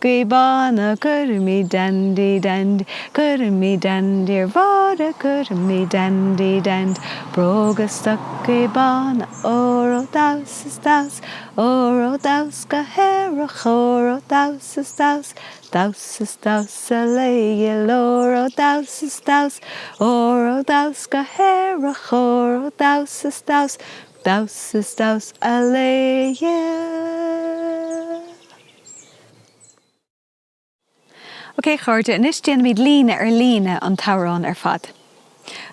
Jabanna Cúraimí Dandy Dandy Cúraimí Dandy ar Bhóithre Cúraimí Dandy Dandy Bróga Stocaí Bána Óró Damhsa is Damhsa Óró Damhsa go hAerach Óró Damhsa is Damhsa Damhsa is Damhsa le Iol Óró Damhsa is Damhsa Óró Damhsa go hAerach Óró Damhsa is Damhsa Damhsa is Damhsa a le Iol. Ok a chairde, anois déanfaimid líne ar líne an t-amhrán ar fad.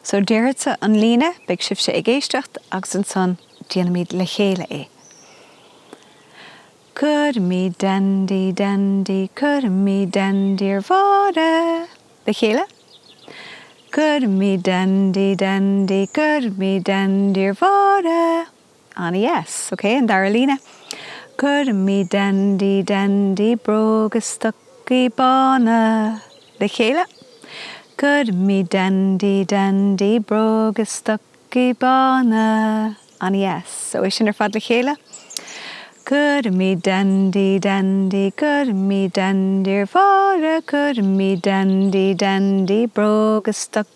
So, déarfadsa an líne, beidh sibhse ag éisteacht agus ansan déanfaimid le chéile é. Cuirfimid deandaí deandaí, cuirfimid deandaí ar Mháire! Le chéile. Cuirfimid deandaí deandaí, cuirfimid deandaí ar Mháire! Ana-dheas, ok, an dara líne. Cuirfimid deandaí deandaí bróga is stocaí bána le chéile, Cuirfimid deandaí deandaí bróga is stocaí bána. Ana-dheas, so é sin ar fad le chéile. Cuirfimid deandaí deandaí, cuirfimid deandaí ar Mháire, cuirfimid deandaí deandaí bróga is stocaí.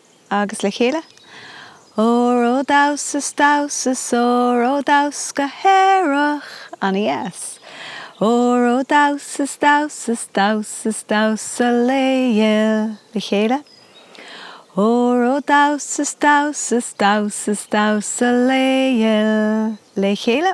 agus le chéile, Óró damhas is damhas óró damhas go haerach ana-dheas. Óró damhas is damhas damhas is damhas a lao ghil le chéile, Óró damhas is damhas damhas is damhas a lao ghil le chéile.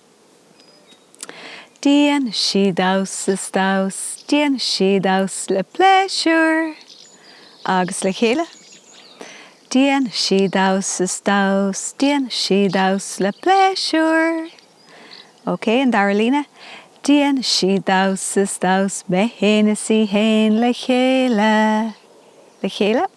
Déanfaidh sí damhas is damhas, déanfaidh sí damhas le pléisiúr agus le chéile. Déanfaidh sí damhas is damhas, déanfaidh sí damhas le pléisiúr. OK, an dara líne. Déanfaidh sí damhas is damhas, mé fhéin is í fhéin le chéile. Le chéile.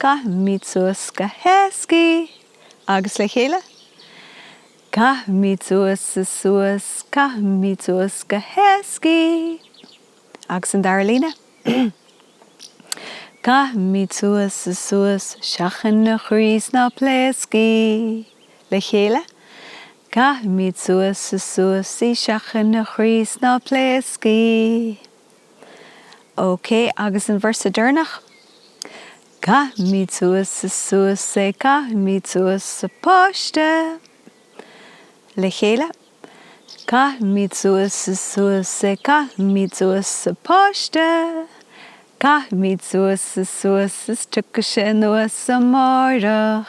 Caithfimid suas go héasca í agus le chéile. Caithfimid suas is suas, caithfimid suas go héasca í. Agus an dara líne. Caithfimid suas is suas, seachain a chroí is ná pléasc í. Le chéile. Caithfimid suas is suas í, seachain a chroí is ná pléasc í. OK agus an véarsa deireanach. Caithfimid suas is suas é Caithfimid suas an páiste Le chéile Caithfimid suas is suas é Caithfimid suas an páiste Caithfimid suas is suas Is tiocfaidh sé anuas amáireach.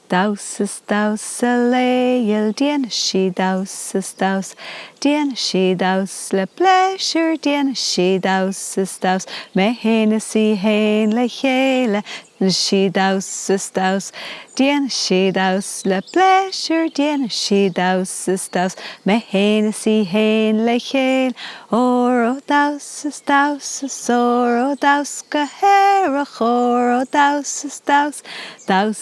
Damhas is damhas a lao ghil déanfaidh sí damhas is damhas déanfaidh sí damhas le pléisiúr déanfaidh sí damhas is damhas mé fhéin is í fhéin le chéile déanfaidh sí damhas is damhas déanfaidh sí damhas le pléisiúr déanfaidh sí damhas is damhas mé fhéin is í fhéin le chéile óró damhas is damhas is óró damhas go haerach óró damhas is damhas damhas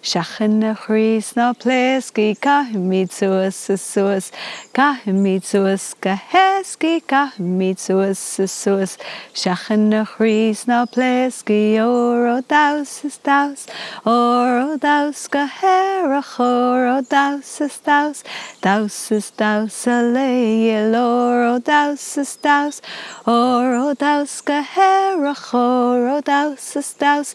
Seachain a chroí is ná pléasc í, caithfimid suas is suas, caithfimid suas go héasca í, caithfimid suas is suas. Seachain a chroí is ná pléasc í, óró damhas is damhas, óró damhas go haerach, óró damhas is damhas, damhas is damhas a lao ghil, óró damhas is damhas, óró damhas go haerach, óró damhas is damhas.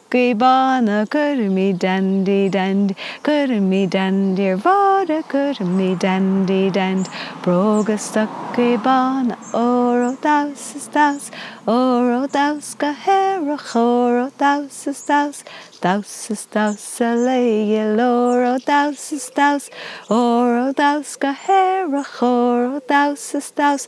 Jabanna Cúraimí Dandy Dand Cúraimí Dandy ar Bhóithre Cúraimí Dandy Dand Bróga Stocaí Bána Óró Damhsa is Damhsa Óró Damhsa go hAerach Óró Damhsa is Damhsa Damhsa is Damhsa le Dhíol Óró Damhsa is Damhsa Óró Damhsa go hAerach Óró Damhsa is Damhsa